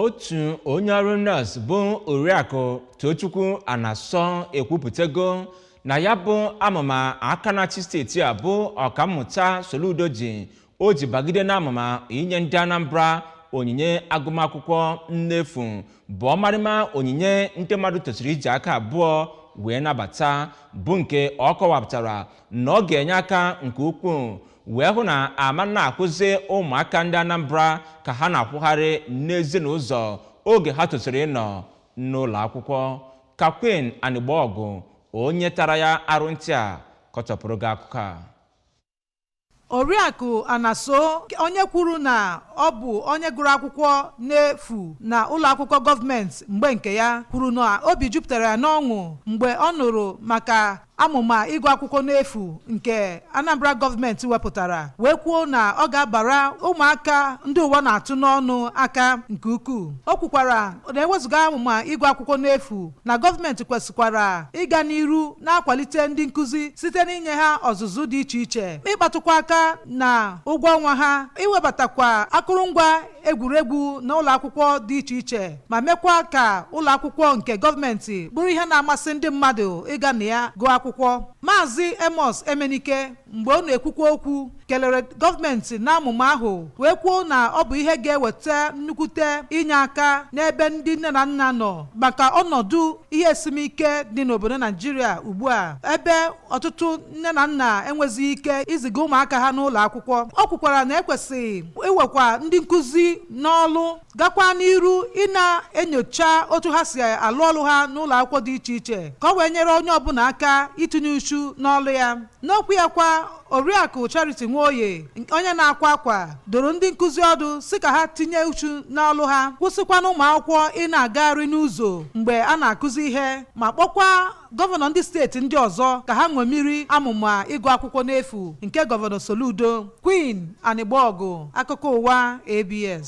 otu onye ọrụ nọọsụ bụ oriakụ tochukwu anaso ekwupụtago na ya bụ amụma aka na-achị steeti a bụ ọkammụta soludo ji o ji bagide n'amụma inye ndị anambra onyinye agụmakwụkwọ n'efu bụ ọmarịma onyinye ndị mmadụ tosiri iji aka abụọ wee nabata bụ nke ọ kọwapụtara na ọ ga-enye aka nke ukwuu wee hụ na a ma na-ahụzi ụmụaka ndị Anambra ka ha na-akwụgharị n'ezi n'ụzọ oge ha tosiri ịnọ n'ụlọ akwụkwọ ka Queen Anigbogu onye tara ya arụ ntị a kọchapụrụ gị akụkọ a Oriakụ Anaso onye kwuru na ọ bụ onye gụrụ akwụkwọ n'efu na ụlọ akwụkwọ gọọmenti mgbe nke ya kwuru na obi jupụtara ya n'ọṅụ mgbe ọ nụrụ maka Amụma ịgụ akwụkwọ n'efu nke Anambra gọọmenti wepụtara wee kwuo na ọ ga-abara ụmụaka ndị ụwa na-atụ n'ọnụ aka nke ukwuu. O kwukwara na ewezụga amụma ịgụ akwụkwọ n'efu na gọọmenti kwesịkwara ịga n'iru na-akwalite ndị nkụzi site n'inye ha ọzụzụ dị iche iche, ịkpatụkwa aka na ụgwọ ọnwa ha, iwebatakwa akụrụngwa egwuregwu na ụlọ akwụkwọ dị iche iche ma mekwa ka ụlọ akwụkwọ nke gọọmenti bụrụ ihe na-amasị ndị mmadụ ịga na ya gụọ akwụkwọ maazị amos emenike mgbe ọ na-ekwukwa okwu kelere gọọmenti na amụma ahụ wee kwuo na ọ bụ ihe ga-eweta nnukwute inye aka n'ebe ndị nne na nna nọ maka ọnọdụ ihe esimike dị n'obodo naijiria ugbu a ebe ọtụtụ nne na nna enwezighị ike iziga ụmụaka ha n'ụlọ akwụkwọ o kwukwara na e kwesịrị iwekwa ndị nkụzi n'ọlụ gakwa n'iru ịna-enyocha otu ha si alụ ọlụ ha n'ụlọ akwụkwọ dị iche iche ka o wee nyere onye ọbụla aka itinye uchu n'ọlụ ya n'okwu ya kwa oriakụ charity nwoye onye na-akwa akwa dụrụ ndị nkụzi ọdụ sị ka ha tinye uchu n'ọlụ ha kwụsịkwa na ụmụ akwụkwọ ịna-agagharị n'ụzọ mgbe a na-akụzi ihe ma kpọkwa gọvanọ ndị steeti ndị ọzọ ka ha ṅomiri amụma ịgụ akwụkwọ n'efu nke gọvanọ Soludo Queen Anigbogu akụkọ ụwa ABS